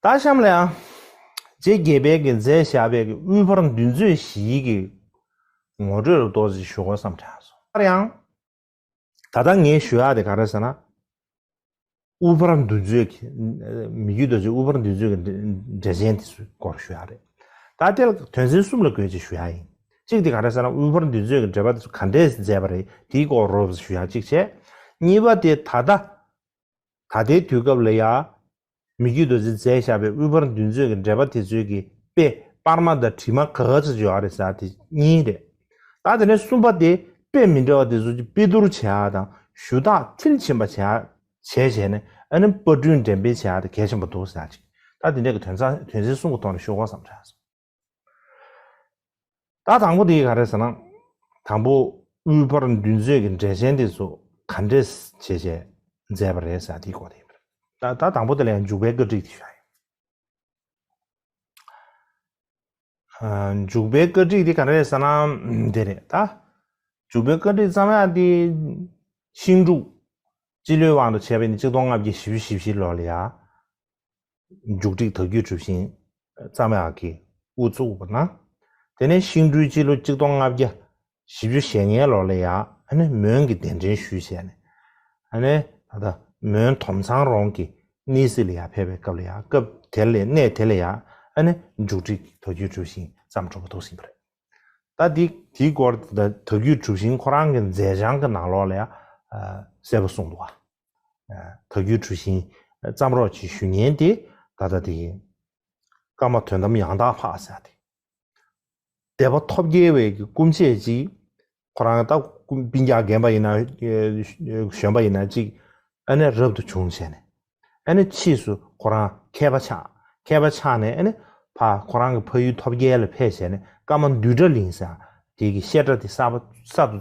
སྟག་ཤམ་ལའང། རྗེ་དགེ་དཔལ་གྱི་མཛད་བཞག་པའི་དབུས་འཕར་འདུལ་མཛོད་བཞིའི་གི་ངོ་སྤྲོད་རུ་གཏོགས་ཅིག་ཞུ་དགོས་བསམ་དྲན་སོང། ཡང་ཡང། ད་ལྟ་ངས་ཞུ་ཡག་དེ་ག་རེ་ཟེར་ན། དབུས་འཕར་འདུལ་མཛོད་ཀྱི། མི་རྒྱུད་རྡོ་རྗེ་དབུས་འཕར་འདུལ་མཛོད་ཀྱི་འགྲེལ་ཆེན་དེ་ཚོའི་སྐོར་ཞུ་ཡག་རེད། ད་ལྟའི་དོན་ཚན་གསུམ་ལ་དགོས་ཅིག་ཞུ་ཡག་ཡིན། གཅིག་དེ་ག་རེ་ཟེར་ན་དབུས་འཕར་འདུལ་མཛོད་ཀྱི་འགྲེལ་པ་དེ་ཚོ་ག་འདྲས་མཛད་པ་རེད་དེའི་སྐོར་རོབ་ཞུ་ཡག་གཅིག་བྱས། གཉིས་པ་དེ་ད་ལྟ། ད་ལྟའི་དུས་སྐབས་ལ་ཡང། མི་རྒྱུད་རྡོ་རྗེ་རྩལ་བཞག་པའི་དབུས་པར་འདུལ་མཛོད་ཀྱི་འགྲེལ་པ་དེ་ཚོད་ཀྱི་དཔེ་སྤར་མ་དང་བྲིས་མ་ག་ག་ཚོད་ཅིག་ཡོད་རེད་ཟེར་དེ་གཉིས་རེད། ད་དེ་ནས་གསུམ་པ་དེ་དཔེ་མི་འདྲ་བ་དེ་ཚོད་ཀྱི་དཔེ་བསྡུར་བྱས་ཡག་དང་ཞུ་དག་མཐིལ་ཕྱིན་པ་བྱས་ཡག་བྱས་བྱས་ནས་ཨ་ནི་པར་སྐྲུན་འགྲེམས་སྤེལ་བྱས་ཡག་དེ་གལ་ཆེན་པོ་འདུག་ཟེར་ཡག་ཅིག་ད་དེ་འདྲས་ཀྱི་དོན་ཚན་གསུམ་གྱི་ཐོག་ནས་ཞུ་དགོངས་སམ་བྱས་ཡག་སོང། ད་དང་པོ་དེ་ག་རེད་ཟེར་ན། དང་པོ་དབུས་བར་མདུན་མཛོད་ཀྱི་འགྲེལ་ཆེན་དེ་ཚོ་ག་འདྲས་བྱས་བྱས་མཛད་པ་རེད་ཟེར་ན་དེའི་སྐོར་དེ་ཡིན་པ་རེད། ད་དང་པོ་དེ་ལས་འཇུག་པའི་བཀའ་སྒྲིག་དེ་ག་རེད། འཇུག་པའི་བཀའ་སྒྲིག་དེ་ག་རེད་ཟེར་ན་དེ་རེད་ད། འཇུག་པའི་བཀའ་སྒྲིག་བརྩམས་ཡག་དེ། ཤིང་འབྲུག། སྤྱི་ལོའི་དབང་དུ་བྱས་པ་ཡིན་ན་གཅིག་སྟོང་ལྔ་བརྒྱ་བཞི་བཅུ་བཞི་བཞི་ལོར་ལ་ཡ། མཇུག་སྒྲིག་དག་བརྒྱུད་གྲུབ་ཤིང་རྩ་མེད་ཨག་གིས་དབུ་བཙུགས་པ་ན། དེ་ནས་ཤིང་སྤྲུལ་སྤྱི་ལོ་གཅིག་སྟོང་ལྔ་བརྒྱ་བཞི་བཅུ་ཞེ་ལྔའི་ལོར་ལ་ཡང་མོན་གྱི་གདན་འདྲེན་ཞུས་བྱས་ནས། ད་ལྟ་མོན་དོམ་ཚང་རོང་གི་གནས་སྲིད་ལ་ཡང་ཕེབས་པའི་སྐབས་ལ་ཡང་སྐབས་དེར་ལས་གནས་དེ་ལ་ཡང་མཇུག་སྒྲིག་དག་བརྒྱུད་གྲུབ་ཤིང་བརྩམས་གྲུབ་པ་གཏོགས་ཟིན་པ་རེད། ད་འདི་དེའི་སྐོར་དག་བརྒྱུད་གྲུབ་ཤིང་ཁོ་རང་གི་མཛད་བྱང་གི་ནང་ལོགས་ལ་ཡང་གསལ་པོ་གསུངས་འདུག་ཨ། ད་རྒྱུད་གྲུ་བཞིན་བརྩམ་རོགས་ཀྱི་ཞུ་སྙན་དེ་ད་ལྟ་དེ་ཡིན། སྐར་མ་དོན་དམ་ཡང་དག་ལྷག་བསལ་ཏེ། དད་པ་ཐོབ་རྒྱལ་བས་ཀྱི་སྐུ་མཆེད་ཅིག། ཁོ་རང་ལྟ་བུ་སྤིན་རྒྱག་རྒན་པ་ཡིན་ན་གཞོན་པ་ཡིན་ན་ཅིག་ཨ་ནེ་རབ་ཏུ་བྱུང་བྱས་ནས། ཨ་ནེ་ཕྱིས་སུ་ཁོ་རང་མཁས་པ་ཆགས། མཁས་པ་ཆགས་ནས་ཨ་ནེ་ཕ་ཁོ་རང་གི་ཕ་ཡུལ་ཐོབ་རྒྱལ་ལ་ཕེབས་བྱས་ནས་སྐར་མ་འདུས་གྲྭ་གླིང་ཟེར་དེ་གི་བཤད་གྲྭ་དེ་གསར་དུ་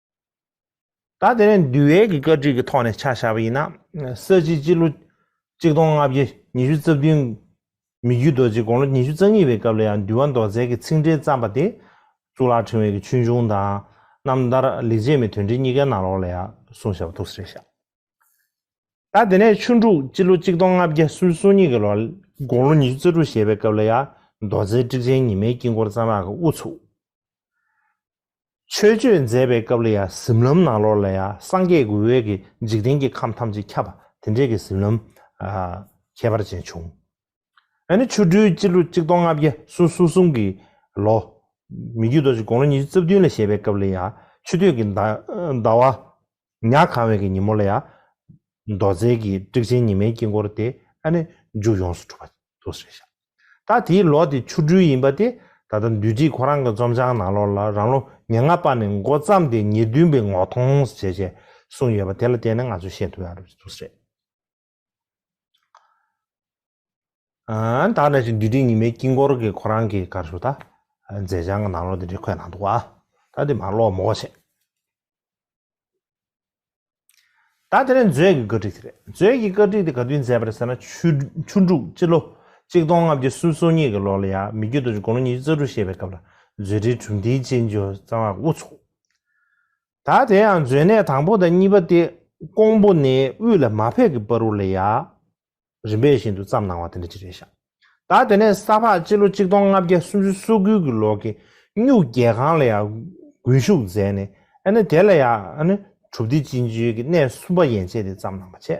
ད་དེ་ནས་འདུལ་བའི་གི་བཀའ་ཁྲིད་ཀྱི་ཐོག་ནས་ཕྱག་བཞག་པ་ཡིན་ན། ས་བྱི་སྤྱི་ལོ་གཅིག་སྟོང་ལྔ་བརྒྱ་ཉི་ཤུ་རྩ་བདུན། མི་རྒྱུད་རྡོ་རྗེ་དགོངས་ལོ་ཉི་ཤུ་རྩ་གཉིས་པའི་སྐབས་ལ་ཡང་འདུལ་བ་མདོ་རྩལ་གྱི་ཚིག་འགྲེལ་བརྩམས་པ་དེ། གཙུག་ལག་ཕྲེང་བའི་གི་ཆོས་འབྱུང་དང། རྣམ་ཐར་ལེགས་བྱས་མའི་དོན་འགྲེལ་གཉིས་ཀའི་ནང་ལོགས་ལ་ཡང་གསུངས་བཞག་པ་ཐུགས་སུ་རེ་བཞག། ད་དེ་ནས་ཆུ་འབྲུག་སྤྱི་ལོ་གཅིག་སྟོང་ལྔ་བརྒྱ་སུལ་སུམ་གཉིས་ཀྱི་ལོར་དགོངས་ལོ་ཉི་ཤུ་རྩ་དྲུག་བཞེས་པའི་སྐབས་ལ་ཡང་མདོ་རྩལ་སྤྲེལ་ཆེན་ཉི་མའི་དཀྱིལ་འཁོར་བརྩམས་ལགས་ཀྱི་དབུ་ཚུགས། ཆོས་སྤྱོད་མཛད་པའི་སྐབས་ལ་ཡང་གཟིམ་ལམ་ནང་ལོགས་ལ་ཡང་སངས་རྒྱས་ཀྱི་འོད་ཀྱིས་འཇིག་རྟེན་གྱི་ཁམས་ཐམས་ཅད་ཁྱབ་པ་དེ་འདྲའི་གཟིམ་ལམ། ཁྱད་པར་ཅན་བྱུང། ཡང་ན་ཆོ་འཕྲུལ་སྤྱི་ལོ་གཅིག་སྟོང་ལྔ་བརྒྱ་སོ་སོ་གསུམ་གྱི་ལོ། མི་རྒྱུད་རྡོ་རྗེ་དགུང་ལོ་ཉི་ཤུ་རྩ་བདུན་ལ་བཞེས་པའི་སྐབས་ལ་ཡང་ཆུ་སྟོད་ཀྱི་ཟླ་བ། ཉག་གང་བའི་གི་ཉིན་མོ་ལ་ཡང། མདོ་རྩལ་གྱི་དཀྲིག་ཆེན་ཉི་མའི་དཀྱིལ་འཁོར་དེ་ཨ་ནི་མཇུག་ཡོངས་སུ་གྲུབ་པ་དུ་ཟེར་ཞག་ད་དེའི་ལོ་དེ་ཆུ་སྦྲུལ་ཡིན་པ་དེ་ད་ལྟ་འདུས་སྒྲིག་ཁོ་རང་གི་རྩོམ་བྱང་ནང་ལོར་ལ་རང་ལོ་ཉེར་ལྔ་པ་ནས་མགོ་བརྩམས་ཏེ་ཉེར་བདུན་པའི་ངོ་མཐོང་ཟེར་བྱས་གསུངས་ཡོད་པ་དེ་ལ་བལྟས་ནས་ང་ཚོས་ཤེས་ཐུབ་ཡག་རེད་བཅུག་རེད། དག་ནས་ཅིག་འདུས་ཏིང་ཉི་མའི་དཀྱིལ་འཁོར་གྱི་ཁོ་རང་གི་གར་ཞུ་དང་མཛད་བྱང་གི་ནང་ལོགས་འདི་འདྲའི་འཁོད་གནང་འདུག་བ། ད་འདི་མར་ཀློག་མོ་བ་བྱེད། ད་དེ་ནས་མཛོད་ཀྱི་བཀའ་ཁྲིད་དེ་རེད། མཛོད་ཀྱི་བཀའ་ཁྲིད་དེ་ག་དུས་མཛད་པ་རེད་ཟེར་ན་ཆུ་ཆུ་འབྲུག་སྤྱི་ལོ་གཅིག་སྟོང་ལྔ་བརྒྱ་སུམ་སོ་གཉིས་ཀྱི་ལོ་ལ་ཡང་མི་རྒྱུད་རྡོ་རྗེ་དགུང་ལོ་ཉི་ཤུ་རྩ་དྲུག་བཞེས་པའི་སྐབས་ལ་མཛོད་འགྲེལ་གྲུབ་མཐའི་སྤྱན་ཆུ་གཙང་བ་དབུ་ཚོགས། ད་དེ་ཡང་མཛོད་གནས་དང་པོ་དང་གཉིས་པ་སྟེ་ཀོང་པོ་ནས་དབུས་ལ་མ་ཕེབས་ཀྱི་སྤར་རུ་ལ་ཡ། རིམ་པས་བཞིན་དུ་བརྩམས་གནང་བ་དེ་འདྲ་ཅི་རེད་ཤག། ད་དེ་ནས་ས་ཕག་སྤྱི་ལོ་གཅིག་སྟོང་ལྔ་བརྒྱ་སུམ་ཅུ་སོ་དགུ་གྱི་ལོ་གི་སྨྱུག་རྒྱལ་ཁང་ལ་ཡ། དགུན་བཞུགས་མཛད་ནས་ཨ་ནི་དེ་ལ་ཡ། ཨ་ནི་གྲུབ་སྡེ་སྤྱི་འཇུས་ཀྱི་གནས་གསུམ་པ་ཡན་ཆད་དེ་བརྩམས་གནང་བ་བྱས།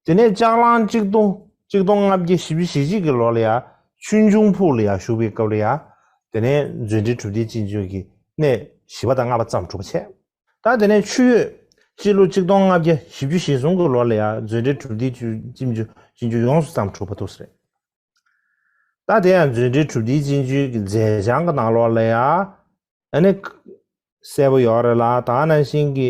དེ་ནས་ལྕགས་གླང་གཅིག་སྟོང་གཅིག་སྟོང་ལྔ་བརྒྱ་བཞི་བཅུ་ཞེ་གཅིག་གི་ལོ་ལ་ཡང་ཆུན་འབྱུང་ཕུག་ལ་ཡང་བཞུགས་པའི་སྐབས་ལ་ཡང། དེ་ནས་མཛོད་འགྲེལ་གྲུབ་བརྟན་ཅི་འབྱོན་གྱི་གནས་བཞི་བ་དང་ལྔ་བ་ཙམ་གྲུབ་པ་འཆད། ད་དེ་ནས་ཆུ་ཡོས་སྤྱི་ལོ་གཅིག་སྟོང་ལྔ་བརྒྱ་བཞི་བཅུ་ཞེ་གསུམ་གི་ལོ་ལ་ཡང་མཛོད་འགྲེལ་གྲུབ་བརྟན་ཅི་འབྱོན་ཅི་འབྱོན་ཡོངས་སུ་ཙམ་གྲུབ་པ་ཐུགས་སུ་རེད། ད་དེ་ཡང་མཛོད་འགྲེལ་གྲུབ་བརྟན་ཅི་འབྱོན་གྱི་མཛད་བྱང་གི་ནང་ལོགས་ལ་ཡང། ཨ་ནི། གསལ་པོ་ཡོད་རེད་ལ་དྭགས་ན་ཤིང་གི་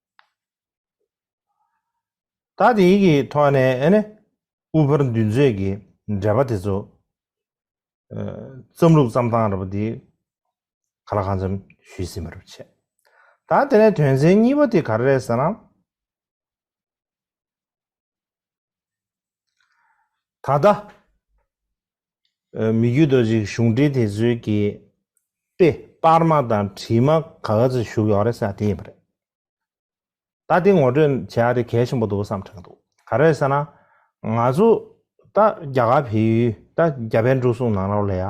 ད་དེའི་གི་ཐོག་ནས་ཨེ་ནི་དབུ་ཕར་འདུལ་མཛོད་ཀྱི་འགྲེལ་པ་དེ་ཚོ་རྩམ་ལུགས་རྩམ་ཐང་ར་པ་དེ་ག་ལ་གང་འཚམ་ཞུས་ཟིན་པ་ར་བ་བྱས། ད་དེ་ནས་དོན་ཚན་གཉིས་པ་དེ་ག་ར་རེད་ཟེར་ན། ད་ལྟ། མི་རྒྱུད་དུ་ཞིག་གཞུང་འབྲེལ་དེ་ཚོའི་གི་དཔེ་དཔར་མ་དང་བྲིས་མ་ག་ག་ཚོད་བཞུགས་ཡོད་རེད་ས་དེ་ཡིན་པ་རེད། ད་དེ་ངོ་སྤྲོད་བྱས་ཡག་དེ་གལ་ཆེན་པོ་འདུག་བསམ་དྲན་གྱི་འདུག་ག་རེད་ཟེར་ན། ང་ཚོ་ད་རྒྱ་གར་བལ་ཡུལ་ད་རྒྱ་བལ་འབྲུག་གསུམ་ནང་ར་བ་ལས་ཡག་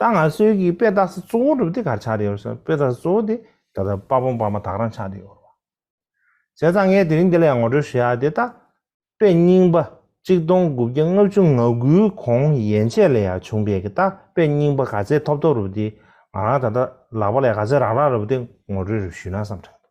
ད་ང་ཚོའི་གི་དཔེ་བལྟ་ས་གཙོ་བོ་གྲུབ་དེ་གར་ཆགས་རེད་བསམ་དཔེ་བལྟ་ས་གཙོ་བོ་དེ་ད་ལྟ་དཔའ་བོང་བར་མ་དག་རང་ཆགས་རེད་བསམ། བྱས་ཙང་ངས་དེ་རིང་འདི་ལ་ཡང་ངོ་སྤྲོད་ཞུ་ཡག་དེ་ལྟ། དཔེ་རྙིང་པ། གཅིག་སྟོང་དགུ་བརྒྱ་ལྔ་བཅུ་ང་དགུའི་གོང་ཡན་ཆད་ལས་ཡང་བྱུང་བས་གི་ད་དཔེ་རྙིང་པ་ག་ཚད་ཐོབ་ཐོབ་རུབ་དེ་ང་རང་ད་ལྟ་ལག་པ་ལས་ག་ཚད་རག་རག་རུབ་དེ་ངོ་སྤྲོད་རུབ་ཞུས་ན་བསམ་དྲན་འདུག།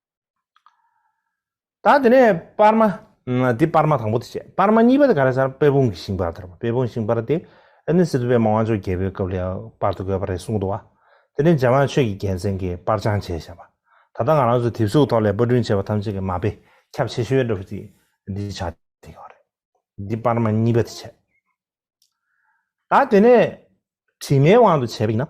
ད་དེ་ནས་པར་མ། འདི་པར་མ་དང་པོ་དེ་བྱས། པར་མ་གཉིས་པ་དེ་ག་རེ་བྱར་དཔལ་སྤུངས་ཀྱི་ཤིང་པར་དེར་དཔལ་སྤུངས་ཤིང་པར་དེ། ཨ་ནི་སི་ཏུ་པད་མ་དབང་ཕྱུག་རྒྱལ་པོའི་སྐབས་ལས་པར་དུ་དགོས་པ་རེད་གསུངས་འདུག་བ། དེ་ནས་འཇམ་དབྱངས་ཆོས་ཀྱི་རྒྱལ་མཚན་གྱིས་པར་སྦྱང་བྱས་བྱས་པ། ད་ལྟ་ང་རང་ཚོའི་དེབ་གཟུགས་ཐོག་ལས་པར་སྐྲུན་བྱས་པ་ཐམས་ཅད་ཀྱི་མ་དཔེ་ཁྱབ་ཆེ་ཤོས་འདྲ་བོ་དེ་འདི་ཆགས་བསྡད་ཡོད་རེད། འདི་པར་མ་གཉིས་པ་དེ་བྱས། ད་དེ་ནས་དྲི་མེད་དབང་དུ་བྱས་པ་ཡིན་ན།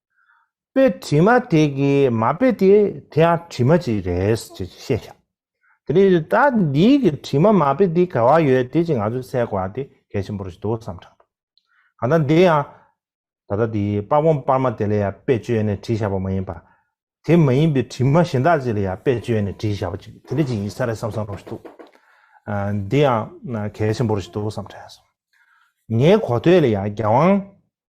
དཔེ་དྲི་མ་དེ་གའི་མ་དཔེ་དེ་དེ་ཡང་དྲི་མ་ཅིག་རེད་ཅེས་བཤད་བྱ། དེ་ནི་ད་འདིའི་གི་དྲི་མ་མ་དཔེ་འདི་ག་བ་ཡོད་དེ་ཅིག་ང་ཚོས་གསལ་གོ་བ་དེ་གལ་ཆེན་པོ་རེད་འདུག་བསམ་དྲགས་འདུག་གང་ལྟར་འདི་ཡང་ད་ལྟ་འདིའི་དཔར་བོང་དཔར་མ་དེ་ལ་ཡང་དཔེ་བཅོས་ནས་བྲིས་བཞག་པ་མ་ཡིན་པར། དེ་མ་ཡིན་པའི་དྲི་མ་གཞན་དག་ཅིག་ལ་ཡང་དཔེ་བཅོས་ནས་བྲིས་བཞག་པ་ཅིག་དེ་འདྲ་ཅིག་ཡིན་ས་རེད་བསམ་བསམ་རུང་ཞིག་འདུག་འདི་ཡང་གལ་ཆེན་པོ་རེད་ཅིག་འདུག་བསམ་དྲགས་སོང། ངའི་གོ་ཐོས་ལ་ཡང་རྒྱལ་དབང།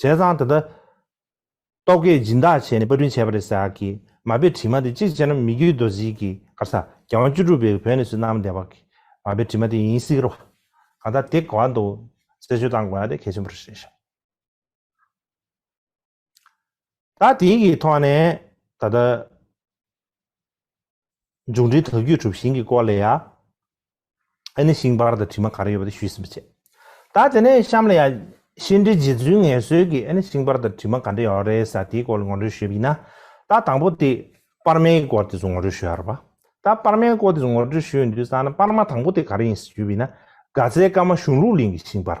བྱས་ཙང་དེ་ལྟར། རྟོག་གེས་སྦྱིན་བདག་བྱས་ནས་པར་སྐྲུན་བྱས་པ་རེད་ཟེར་གི། མ་དཔེ་བྲིས་མ་དེ་གཅིག་བྱས་ན་མི་རྒྱུད་རྡོ་རྗེའི་གི་གར་ས། རྒྱལ་དབང་བཅུ་དྲུག་པའི་བོད་ནས་སུ་གནང་བདེ་བ་གི། མ་དཔེ་བྲིས་མ་དེ་ཡིན་སྲིད་རོ། གང་ལྟར་དེ་ག་བ་འདུག་གསལ་བརྗོད་གཏང་དགོས་ན་དེ་གལ་ཆེན་པོ་རེད་ཤག། ད་དེང་གི་ཐོག་ནས་ད་ལྟ། མཇུག་འགྲིལ་དུ་རྒྱུད་གྲུབ་ཤིང་གི་སྐོར་ལས་ཡ། ཨེ་ནི་ཤིང་པར་དང་དྲི་མ་ག་རེ་ཡོད་པ་དེ་ཞུས་ཟིན་པ་བྱས། ད་དེ་ནས་གཤམ་ལ་ཡ། ཤིང་འབྲས་རྗེ་བཙུན་ངལ་གསོས་ཀྱིས་ཨེ་ནི་ཤིང་པར་དང་དྲི་མ་ག་འདྲ་ཡོད་རེད་ས་དེའི་སྐོར་ལ་ངོ་སྤྲོད་ཞུས་པ་ཡིན་ན། ད་དང་པོ་དེ། པར་མའི་སྐོར་དེ་ཚོ་ངོ་སྤྲོད་ཞུ་ཡ་རེད་པ། ད་པར་མའི་སྐོར་དེ་ཚོ་ངོ་སྤྲོད་ཞུ་ཡོང་དུས་བསམ་ན་པར་མ་དང་པོ་དེ་ག་རེ་ཡིན་ཞེས་ཞུས་པ་ཡིན་ན། དགའ་ཚལ་སྐར་མ་གཞུང་ལུགས་གླིང་གི་ཤིང་པར།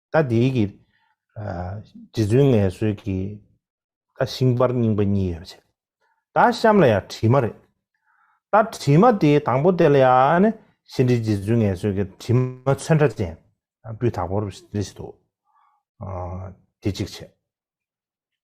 ད་དེའི་གི་རྗེ་བཙུན་ངལ་གསོའི་གི་ད་ཤིང་པར་རྙིང་པ་གཉིས་ཡོད་པ་བྱེད། ད་གཤམ་ལ་ཡང་བྲིས་མ་རེད། ད་བྲིས་མ་དེའི་དང་པོ་དེ་ལ་ཡང་ནི་ཤིང་དྲི་རྗེ་བཙུན་ངལ་གསོའི་གི་བྲིས་མ་ཚོན་ཁྲ་ཅན་སྤུས་དག་པོ་རེ་ཞིག་འདུག། དེ་གཅིག་བྱེད།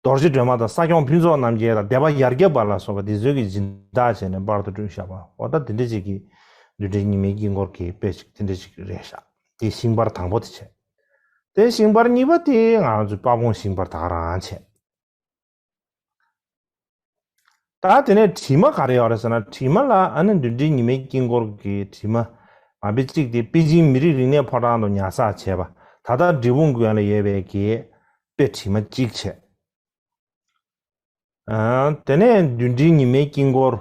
རྡོ་རྗེ་སྒྲོལ་མ་དང་ས་སྐྱོང་ཕུན་ཚོགས་རྣམ་རྒྱལ་དང་སྡེ་པ་ཡར་རྒྱས་པ་ལ་སོགས་པ་འདིས་མཛོད་ཀྱི་སྦྱིན་བདག་བྱས་ནས་པར་དུ་བསྐྲུན་བཞག་པ་འོ་ད་འདི་འདྲ་ཅིག་གིས་བདུད་འདྲེ་གཉིས་མེད་དཀྱིལ་འཁོར་གྱི་དཔེ་ཅིག་འདི་འདྲ་ཅིག་རེ་བཞག་དེས་ཤིང་པར་དང་པོ་དེ་བྱས། དེ་ཤིང་པར་གཉིས་པ་དེ་ང་ཚོས་དཔའ་བོང་ཤིང་པར་དག་རང་བྱས། ད་དེ་ནས་དྲི་མ་ག་རེ་ཡོད་རེད་ཟེར་ན་དྲི་མ་ལ་ཨ་ནི་མདུན་གྲི་ཉི་མའི་དཀྱིལ་འཁོར་གྱི་དྲི་མ་མ་དཔེ་གཅིག་སྟེ་པེ་ཅིང་མི་རིགས་རིག་གནས་ཕོ་བྲང་དུ་ཉར་ཚགས་བྱས་པ་ད་ལྟ་འབྲི་བུང་དགོན་ལ་ཡོད་པའི་གྱི་དཔེ་དྲི་མ་གཅིག་བྱས། དེ་ནས་མདུན་གྲི་ཉི་མའི་དཀྱིལ་འཁོར་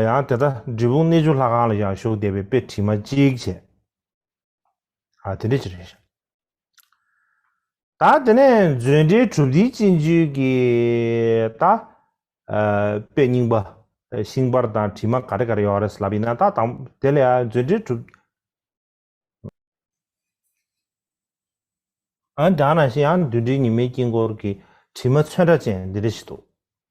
ཡང་དེ་ལྟ་འབྲི་བུང་གནས་ཆུ་ལྷ་ཁང་ལ་ཡང་བཞུགས་བསྡད་པའི་དཔེ་དྲི་མ་གཅིག་བྱས། དེ་འདྲ་བྱས། ད་དེ་ནས་མཛོད་འགྲེལ་གྲུབ་མཐའི་སྤྱི་འཇུག་གི་ད། པའི་རྙིང་པ། ཤིང་པར་དང་བྲིས་མ་ག་རེ་ག་རེ་ཡོད་རེད་ལབ་ཡིན་ན་ད་དང། དེ་ལས་མཛོད་འགྲེལ་གྲུབ། ཨ་འགྲང་ན་ཤི་ཡང་བདུད་འདྲེ་ཉི་མའི་དཀྱིལ་འཁོར་གྱི་བྲིས་མ་ཚོན་ཁྲ་ཅན་འདི་འདྲ་ཞིག་འདུག།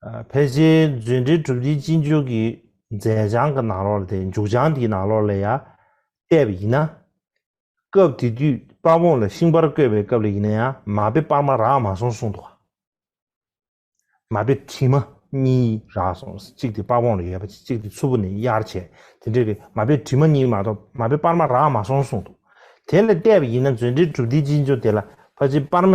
ཕལ་ཆེར་མཛོད་འགྲེལ་གྲུབ་འབྲིའི་སྤྱི་འཇུག་གི་མཛད་བྱང་གི་ནང་ལོགས་དེ་མཇུག་བྱང་དེའི་ནང་ལོགས་ལས་ཡང་བལྟས་པ་ཡིན་ན། སྐབས་དེ་དུས་དཔའ་བོ་ལ་ཤིང་པར་བརྐོས་པའི་སྐབས་ལ་ཡིན་ན་ཡང་མ་དཔེ་དཔར་མ་རག་མ་སོང་གསུངས་འདུག། མ་དཔེ་བྲིས་མ་གཉིས་རག་སོང་གཅིག་དེ་དཔའ་བོ་ལ་ཡོད་པ་གཅིག་དེ་ཚུར་བུ་ནས་གཡར་བྱས་དེ་འདྲ་རེད་མ་དཔེ་བྲིས་མ་གཉིས་མ་གཏོགས་མ་དཔེ་དཔར་མ་རག་མ་སོང་གསུངས་འདུག་དེ་ལས་བལྟས་པ་ཡིན་ན་མཛོད་འགྲེལ་གྲུབ་འབྲིའི་སྤྱི་འཇུག་དེ་ལ་ཕལ་ཆེར་དཔར་མ།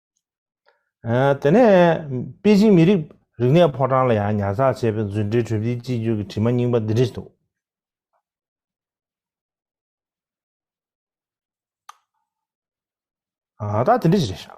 དེ་ནས་པེ་ཅིང་མི་རིགས་རིག་གནས་ཕོ་བྲང་ལ་ཡང་ཉར་ཚགས་བྱས་པའི་རྫུན་འབྲེལ་གྲོས་འདིའི་གཅིག་གྱུར་གྱི་དྲི་མ་རྙིང་པ་འདི་འདྲི་འདུག། ད་དེ་འདྲི་བྱེད་རེད་བཞག།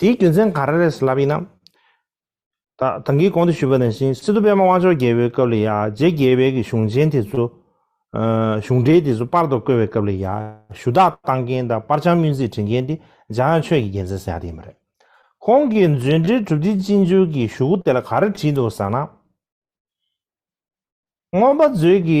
དེའི་རྒྱུ་མཚན་ག་རེ་རེད་ཟེར་ལབ་ཡིན་ནམ། ད་གིས་གོང་དུ་ཞུས་པ་ནང་བཞིན་སི་ཏུ་པད་མ་དབང་ཆོག་རྒྱལ་པོའི་སྐབས་ལ་ཡང་རྗེ་དགེ་བེད་ཀྱི་གཞུང་ཆེན་དེ་ཚོ། གཞུང་འགྲེལ་དེ་ཚོ་སྤར་དུ་བཀོལ་བའི་སྐབས་ལ་ཡང་ཞུ་དག་བཏང་མཁན་དང་སྤར་བྱང་སྨྱུན་རྩིས་བྲིས་མཁན་དེ་འཇམ་དབྱངས་ཆོས་ཀྱི་རྒྱལ་མཚན་ཟེར་ཡག་དེ་ཡིན་པ་རེད། ཁོང་གིས་མཛོད་འགྲེལ་གྲུབ་མཐའི་སྤྱི་འགྱུར་གྱི་ཞུ་སྒོ་དེ་ལ་ག་རེ་བྲིས་འདུག་ཟེར་ན། རྔོན་པ་མཛོད་ཀྱི།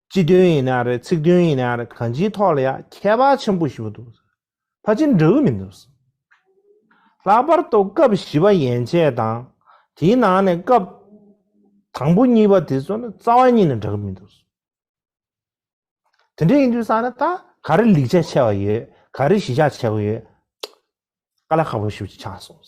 སྤྱི་དོན་ཡིན་ན་རེད་ཚིག་དོན་ཡིན་ན་རེད་གང་ཅིའི་ཐོག་ལ་ཡང་ཁྱད་པར་ཆེན་པོ་ཞིག་འདུག་ཕ་ཅིང་འདྲ་བོ་མི་འདུག་ལྷག་པར་དུ་སྐབས་བཞི་པ་ཡན་ཆད་དང་དེའི་ནང་ནས་སྐབས་དང་པོ་གཉིས་པ་དེ་ཚོ་ནི་རྩ་བ་ཉིད་ནས་འདྲ་གི་མི་འདུག་དེ་འདྲ་ཡིན་དུས་ས་ནི་ད་ག་རེ་ལེགས་ཆ་ཆེ་བ་ཡོད་ག་རེ་གཞི་ཆགས་ཆེ་བ་ཡོད་ཀ་ལ་ཁག་པོ་ཞིབ་ཅིག་ཆགས་སོང།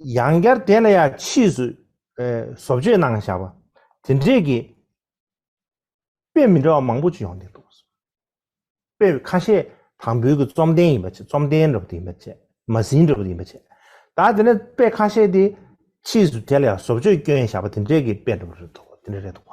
ཡང་བསྐྱར་དེ་ལ་ཡང་ཕྱིས་སུ་བཟོ་བཅོས་གནང་བཞག་པ་དེ་འབྲས་ཀྱི་དཔེ་མི་འདྲ་བ་མང་པོ་ཅི་ཡོང་དེ་འདུག། དཔེ་ཁ་ཤས་དང་པོའི་གི་བཅོམ་ལྡན་ཡིན་པ་ཆེ་བཅོམ་ལྡན་འདྲ་པོ་དེ་ཡིན་པ་ཆེ་མ་ཟིན་འདྲ་པོ་ཡིན་པ་ཆེ་ད་དེ་ནས་དཔེ་ཁ་ཤས་དེ་ཕྱིས་སུ་དེ་ལ་ཡང་བཟོ་བཅོས་བསྐྱོན་བཞག་པ་དེ་འབྲས་ཀྱི་དཔེ་འདྲ་པོ་རེད་འདུག་དེ་འདྲ་རེད་འདུག་བ།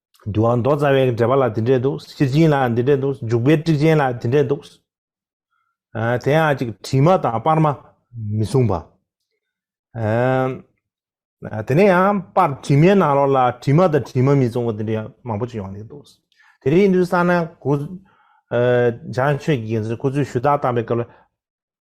འདུལ་བ་མདོ་རྩ་བའི་འགྲེལ་པ་ལ་དེ་འདྲས་འདུག་ཤེར་ཕྱིན་ལ་དེ་འདྲས་འདུག་འཇུག་པའི་དཀྲིག་ཅན་ལ་དེ་འདྲས་འདུག། དེ་ཡང་གཅིག་དྲི་མ་དང་སྤར་མ་མི་གསུངས་པ། དེ་ནས་ཡང་སྤར་དྲི་མའི་ནང་ལོགས་ལ་དྲི་མ་དང་དྲི་མ་མི་གསུངས་པ་དེ་འདྲས་མང་པོ་ཅིག་ཡོང་གི་འདུག། དེ་རིང་འདུལ་ས་ན་གོ། བྱང་ཆོས་ཀྱི་རྒྱལ་མཚན་ཁོ་ཚོས་ཞུ་དག་བཏང་པའི་སྐབས་ལ།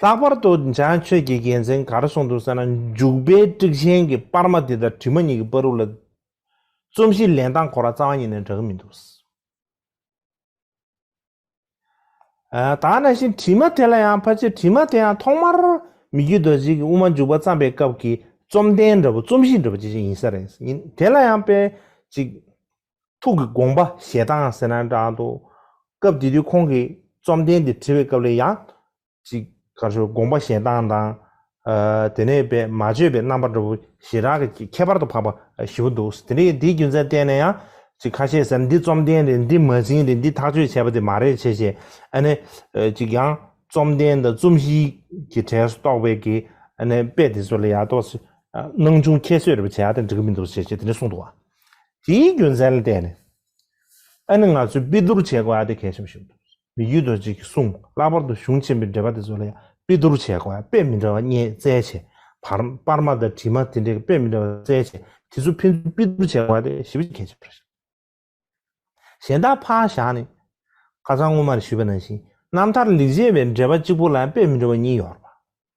ལྷག་པར་དུ་འཇང་ཆོས་ཀྱི་རྒྱལ་མཚན་གར་སོང་འདུག་ཟེར་ན་འཇུག་པའི་དཀྲིག་ཆེན་གྱི་དཔར་མ་དེ་དང་དྲི་མ་གཉིས་ཀྱི་དཔའ་རུ་ལ། རྩོམ་གཞི་ལེན་སྟངས་གོ་ར་རྩ་བ་ཉིད་ནས་འདྲ་གི་མི་འདུག། ད་ནང་བཞིན་དྲི་མ་དེ་ལ་ཡང་ཕར་ཆེར་དྲི་མ་དེ་ཡང་ཐོག་མར་མི་རྒྱུད་རྡོ་རྗེ་གི་དབུ་མ་འཇུག་པ་བརྩམས་པའི་སྐབས་ཀྱི་བཅོམ་ལྡན་འདྲ་བོ་རྩོམ་གཞི་འདྲ་བོ་ཅི་ཞིག་ཡིན་ས་རེད། དེ་ལ་ཡང་དཔེ་གཅིག། ཐུགས་ཀྱི་དགོངས་པ་ཞལ་ཐང་ཟེར་ན་འདྲ་འདུག་སྐབས་དེ་དུས་ཁོང་གིས་རྩོམ་འདན་དེ་བྲི་བའི་སྐབས་ལས་ཡང། ཅིག་གར་ཞོར་དགོངས་པ་ཞལ་ཐང་དང། དེ་ནས་པད་མ་བརྗོད་པའི་རྣམ་པ་འདྲ་བོ་ཞེ་དྲག་གིས་ཁྱད་པར་དུ་འཕགས་པ་བཞི་བོ་འདུག་དེ་རིང་དེའི་རྒྱུ་མཚན་བལྟས་ན་ཡང། ཅིག་ཁ་ཤས་ཟེར་འདི་རྩོམ་འདན་རེད་འདི་མ་བྱིན་རེད་འདི་ཐག་གཅོད་བྱས་པ་དེ་མ་རེད་བྱས་བྱས་ཨ་ནི། ཅིག་ཡང་རྩོམ་འདན་དང་རྩོམ་གཞིའི་གྱི་གྲས་སུ་གཏོགས་པའི་གི་ཨ་ནི་དཔེ་དེ་ཚོ་ལ་ཡག་ཐོག་སྣང་ཆུང་ཁྱད་གསོད་རེ་བ་བྱས་ཡག་དེ་འགྲིག་གི་མི་འདུག་བྱས་བྱས་དེ་ནས་གསུངས་འདུག་བ། དེའི་རྒྱུ་མཚན་ལ་བལྟས་ནས་ཨ་ནི་ང་ཚོས་དཔེ་བསྡུར་བྱེད་དགོས་ཨ་དེ་གལ་ཆེན་པོ་ཞིག་འདུག་མི་རྒྱུད་རྡོ་རྗེ་ཀྱིས་གསུངས་ལྷག་པར་དུ་གཞུང་ཆེན་པོའི་འགྲེལ་པ་དེ་ཚོ་ལ་ཡང་དཔེ་བསྡུར་བྱེད་དགོས་ཨ་དཔེ་མི་འདྲ་བ་རྙེད་བཙལ་བྱེད་བར་པར་མ་དང་བྲིས་མ་དེ་འདྲའི་དཔེ་མི་འདྲ་བ་བཙལ་བྱེད་དེ་ཚོ་ཕན་ཚུན་དཔེ་བསྡུར་བྱེད་དགོས་ཨ་དེ་ཞིབ་བཤེར་གལ་ཆེན་པོ་རེད། གཞན་དག་ཕག་བཞག་ནི། ཁ་སང་སྔོན་མར་ཞུས་པ་ནང་བཞིན་རྣམ་ཐར་ལེགས་བྱས་པའི་འགྲེལ་པ་གཅིག་པོ་ལ་དཔེ་མི་འདྲ་བ་གཉིས་ཡོད་རེད།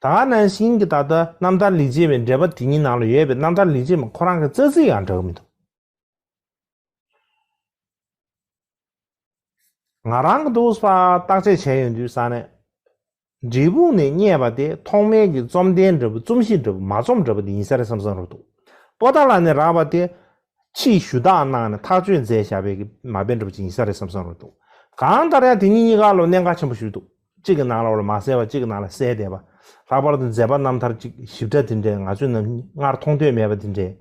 ད་ག་ནང་བཞིན་གྱི་ད་ལྟ་རྣམ་ཐར་ལིག་ཅེས་པའི་འགྲེལ་པ་དེ་གཉིས་ནང་ལ་ཡོད་པའི་རྣམ་ཐར་ལིག་ཅེས་པ་ཁོ་རང་གི་རྩ་ཚིག་ཡང་འདྲ་གི་མི་འདུག། ང་རང་གི་འདུག་ས་བརྟག་དཔྱད་བྱས་ཡོང་དུས་ས་ནས། འབྲས་སྤུངས་ནས་རྙེད་པ་དེ་ཐོག་མེད་ཀྱི་རྩོམ་ལྡན་འདྲ་བུ་རྩོམ་གཞི་འདྲ་བུ་མ་རྩོམ་འདྲ་བུ་དེ་ཡིན་ས་རེད་བསམ་བསམ་རུག་འདུག་པོ་ཏཱ་ལ་ནས་རག་པ་དེ། ཕྱིས་ཞུ་དག་གནང་ནས་ཐག་གཅོད་མཛད་བཞག་པའི་གི་མ་དཔེ་འདྲ་བུ་ཅིག་ཡིན་ས་རེད་བསམ་བསམ་རུག་འདུག་གང་ལྟར་ཡང་དེ་གཉིས་གཉིས་ཀ་ལོ་གནད་འགག་ཆེན་པོ་ཞུགས་འདུག། གཅིག་གི་ནང་ལ་བར་མ་གསལ་བ་གཅིག་གི་ནང་ལ་གསལ་བསྡད་པ། ལྷག་པར་དུ་མཛད་པ་རྣམ་ཐར་གཅིག་ཞིབ་ཕྲ་དེ་འདྲའི་ང་ཚོས་ནམ་སྔར་མཐོང་ཐོས་མེད་པ་དེ་འདྲའི།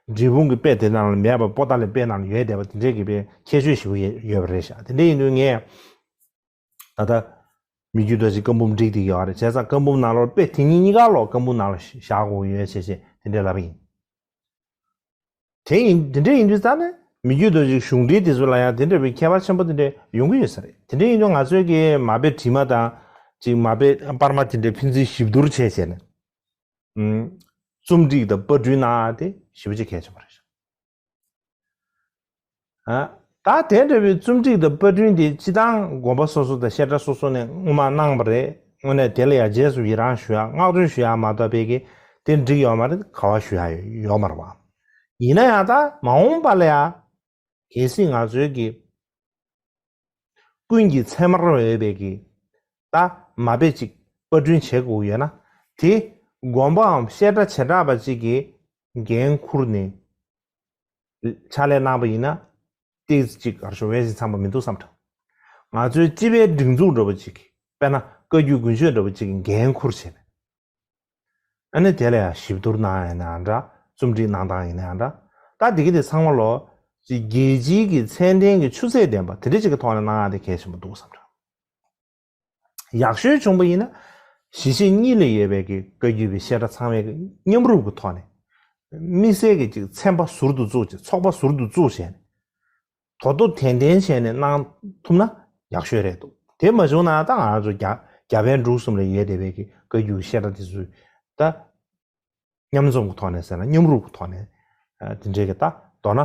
འབྲི་སྤུངས་ཀྱི་དཔེ་དེ་ནང་ལ་མེད་པར་པོ་ཏཱ་ལའི་དཔེ་ནང་ལ་ཡོད་བསྡད་པ་དེ་འདྲའི་གི་དཔེ་ཁྱད་ཆོས་ཞིག་ཡོད་པ་རེད་ཤག་དེ་འདྲ་ཡིན་དུས་ངས། ད་ལྟ། མི་རྒྱུད་དྲ་ཕྱི་བཀའ་འབུམ་བསྒྲིགས་བསྡད་ཀྱི་ཡོད་རེད་བྱས་ཙང་བཀའ་འབུམ་ནང་ལོར་དཔེ་དེ་གཉིས་གཉིས་ཀ་ལོག་བཀའ་འབུམ་ནང་ལ་བཞག་དགོས་ཀྱི་ཡོད་བྱས་བྱས་དེ་འདྲའི་ལབ་པ་ཡིན། དེ་ཡིན་དེ་འདྲ་ཡིན་དུས་ཙང་ནས་མི་རྒྱུད་དུ་ཅིག་གཞུང་འབྲེལ་དེ་ཚོ་ལ་ཡང་དེ་འདྲ་བའི་ཁྱད་པར་ཆེན་པོ་དེ་འདྲ་ཡོང་གི་ཡོད་ས་རེད་དེ་འདྲ་ཡིན་དུས་ང་ཚོའི་གི་མ་དཔེ་བྲིས་མ་དང་ཅིག་མ་དཔེ་དཔར་མ་དེ་འདྲ་ཕན་ཚུན་གཤིབ་བསྡུར་བྱས་བྱས་ནས་རྩོམ་སྒྲིག་དང་དཔར་སྐྲུན་གནང་ཨ་དེ་ཞིབ་པོ་བྱེད་གལ་ཆེན་པོ་རེད། ད་དེ་འདྲ་བའི་རྩོམ་སྒྲིག་དང་པར་སྐྲུན་དེ་སྤྱི་བཏང་དགོངས་པ་སོ་སོ་དང་བཤད་གྲྭ་སོ་སོ་ནས་སྔོན་མ་གནང་བ་རེད་དངོས་གནས་དེ་ལ་ཡང་རྗེས་སུ་ཡི་རངས་ཞུ་ཡག་བསྔགས་བརྗོད་ཞུ་ཡག་མ་གཏོགས་བེད་ཀི་དེ་འགྲིག་ཡོག་མ་རེད་ག་བ་ཞུ་ཡག་ཡོག་མ་རེད་བ། ཡིན་ན་ཡང་ད་མ་འོངས་པ་ལ་ཡང་གལ་སྲིད་ང་ཚོའི་གི་ཀུན་གྱི་ཚད་མར་འོས་པའི་གི་ད་མ་དཔེ་ཅིག་པར་སྐྲུན་བྱེད་དགོས་ཡོད་ན་དེ་དགོངས་པའམ་བཤད་གྲྭ་བྱེ་བྲག་པ་ཅིག་གི་འགན་འཁུར་ནས། ཕྱག་ལས་གནང་བ་ཡིན་ན། སྟེགས་གཅིག་གར་ཤོར་བས་ཞིང་ཚང་པ་མི་འདུག་བསམ་དྲགས། ང་ཚོའི་སྤྱི་པའི་སྒྲིག་འཛུགས་འདྲ་བོ་ཅིག་གིས་དཔེར་ན་བཀའ་རྒྱུད་དགུན་ཆོས་འདྲ་བོ་ཅིག་གིས་འགན་འཁུར་བྱས་པས། ཨ་ནི་དེ་ལ་ཡང་ཞིབ་བསྡུར་གནང་ཡང་ཡང་འདྲ་རྩོམ་སྒྲིག་གནང་སྟངས་ཡིན་ཡང་འདྲ། ད་དེ་གི་དེ་ཚང་མ་ལོ། ཅི་རྒྱལ་སྤྱིའི་གི་ཚད་ལྡན་གི་ཆུ་ཚད་ལྡན་པ་དེ་འདྲ་ཅིག་གི་ཐོག་ནས་གནང་ཡང་དེ་གལ་ཆེན་པོ་འདུག་བསམ་དྲགས། ཡག་ཤོས་བྱུང་པ་ཡིན་ན་གཞིས་བྱེས་གཉིས་ལས་ཡོད་པའི་གི་བཀའ་རྒྱུད་པའི་བཤད་གྲྭ་ཚང་མའི་གི་མཉམ་རུབ་གི་ཐོག་ནས། དམིགས་བསལ་གི་ཅིག་ཚན་པ་ཟུར་དུ་བཙུགས་ཅིག་ཚོགས་པ་ཟུར་དུ་བཙུགས་བྱས་ནས། དོ་དོ་དན་དན་བྱས་ནས་གནང་ཐུབ་ན་ཡག་ཤོས་རེད་འདུག་དེ་མ་བྱུང་ན་ད་ང་ཚོ་རྒྱ་རྒྱ་བལ་འབྲུག་གསུམ་ལས་ཡོད་བསྡད་པའི་གི་བཀའ་རྒྱུད་བཤད་གྲྭ་དེ་ཚོས་ད། མཉམ་འཛོམས་ཀྱི་ཐོག་ནས་ཟེར་ན་མཉམ་རུབ་ཀྱི་ཐོག་ནས་དེ་འབྲེལ་གྱི་ལྟ། མདོར་ན།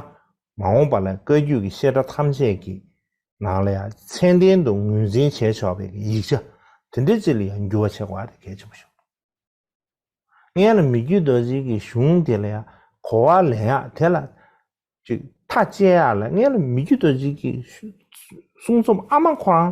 མ་འོངས་པ་ལ་བཀའ་བརྒྱུད་ཀྱི་བཤད་གྲྭ་ཐམས་ཅད་ཀྱི་ནང་ལ་ཡང་མཚན་ལྡན་དུ་ངོས་འཛིན་བྱས་ཆོག་པའི་ཡིག་ཆ་དེ་འདྲ་ཅིག་ལ་ཡང་འགྱུར་བ་ཆེ་བ་དེ་གལ་ཆེན་པོ་ཞིག་འདུག་ངས་ལ་མི་རྒྱུད་རྡོ་རྗེ་ཀྱི་གཞུང་དེ་ལ་ཡང་གོ་བ་ལེན་ཡག་དེ་ལ་ཅིག་མཐའ་དཔྱད་ཡག་ལ་ངས་ལ་མི་རྒྱུད་རྡོ་རྗེ་ཀྱི་གསུང་རྩོམ་ཨ་མ་ཁོ་རང་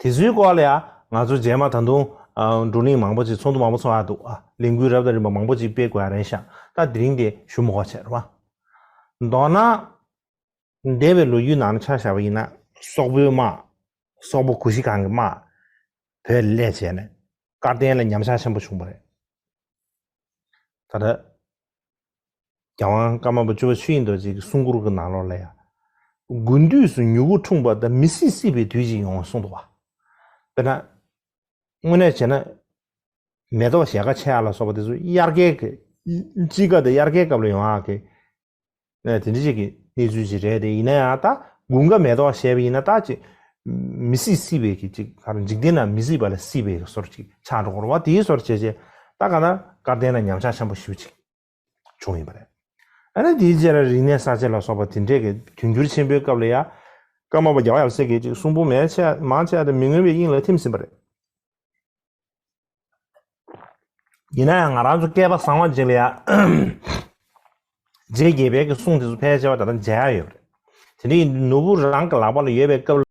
དེ་ཚོའི་སྐོར་ལ་ཡང་ང་ཚོ་རྗེས་མ་ད་དུང་བགྲོ་གླེང་མང་པོ་ཅིག་ཚོགས་འདུ་མང་པོ་ཚོགས་ཡག་འདུག་ལས་འགུལ་རབ་དང་རིམ་པ་མང་པོ་ཅིག་སྤེལ་དགོས་ཡག་རེད་ཤག་ད་དེ་རིང་དེ་ཞུ་མི་གོ་ཆེར་བ། མདོར་ན། འདས་པའི་ལོ་རྒྱུས་ནང་ཆ་བཞག་པ་ཡིན་ན་སོག་པོའི་དམག་སོག་པོ་གུ་ཤྲི་ཁང་གི་དམག་བོད་ལས་བྱས་ནས་སྐར་བསྟན་ལ་ཉམས་ཆག་ཆེན་པོ་བྱུང་པ་རེད། ད་ལྟ། རྒྱལ་དབང་བཀའ་མ་པ་བཅུ་པ་ཆོས་དབྱིངས་རྡོ་རྗེ་གི་གསུང་མགུར་གྱི་ནང་ལོགས་ལ་ཡང། དགུན་དུས་སུ་མྱུ་གུ་འཁྲུངས་པ་དང་མི་སྲིད་སྲིད་པའི་དུས་ཅིག་ཡོང་བ་གསུངས་འདུག་བ། དཔེར་ན། དངོས་གནས་བྱས་ན། མེ་ཏོག་ཞལ་ཁ་ཕྱེ་ཡག་ལ་སོགས་པ་དེ་ཚོ་དབྱར་ཁའི་གི། དཔྱིད་ཀ་དང་དབྱར་ཁའི་སྐབས་ལ་ཡོང་ཡག་གི། དེ་འདྲ་ཅིག་གི་གནས་ཚུལ་ཅིག་རེད་དེ་ཡིན་ན་ཡང་ད་དགུན་ཁ་མེ་ཏོག་བཞད་པ་ཡིན་ན་ད་ཅིག་མི་སྲིད་སྲིད་པའི་གྱི་ཅིག་ད་རུང་འཇིག་རྟེན་ན་མི་སྲིད་པ་ལ་སྲིད་པའི་གི་སོར་ཅིག་ཆགས་འགྲོ་སྐོར་བ་དེའི་སོར་བྱས་རྗེས་ད་ག་ན་སྐལ་ལྡན་ན་ཉམས་ཆགས་ཆེན་པོ་ཞིག་ཅིག་བྱུང་ཡོད་པ་རེད། ཨ་ནི་དེའི་རྗེས་ལ་རིག་གནས་གསར་བརྗེ་ལ་སོགས་པ་དེ་འདྲས་གི་དུས་འགྱུར་ཆེན་པོའི་སྐབས་ལ་ཡ། སྐར་མ་པ་བརྒྱ་བ་ཡབ་སྲས་ཀྱི་ཅིག་གསུང་པོ་མའི་ཆེ་མང་ཆེ་དེ་མི་མངོན་པའི་དབྱིངས་ལ་ཐིམ་ཟིན་པ་རེད། ཡིན་ན་ཡང་ང་རང་ཚོ་སྐལ་པ་བཟང་བ་ཅིག་ལ་ཡ། རྗེ་དགྱེས་པའི་གི་གསུང་དེ་ཚོ་ཕལ་ཆེ་བ་ད་ལྟ་མཇལ་ཡ་ཡོད་པ་རེད། དེ་འདྲའི་ནོར་བུ་རང་གི་ལག་པ་ལ་ཡོད་པའི་སྐབས་ལ།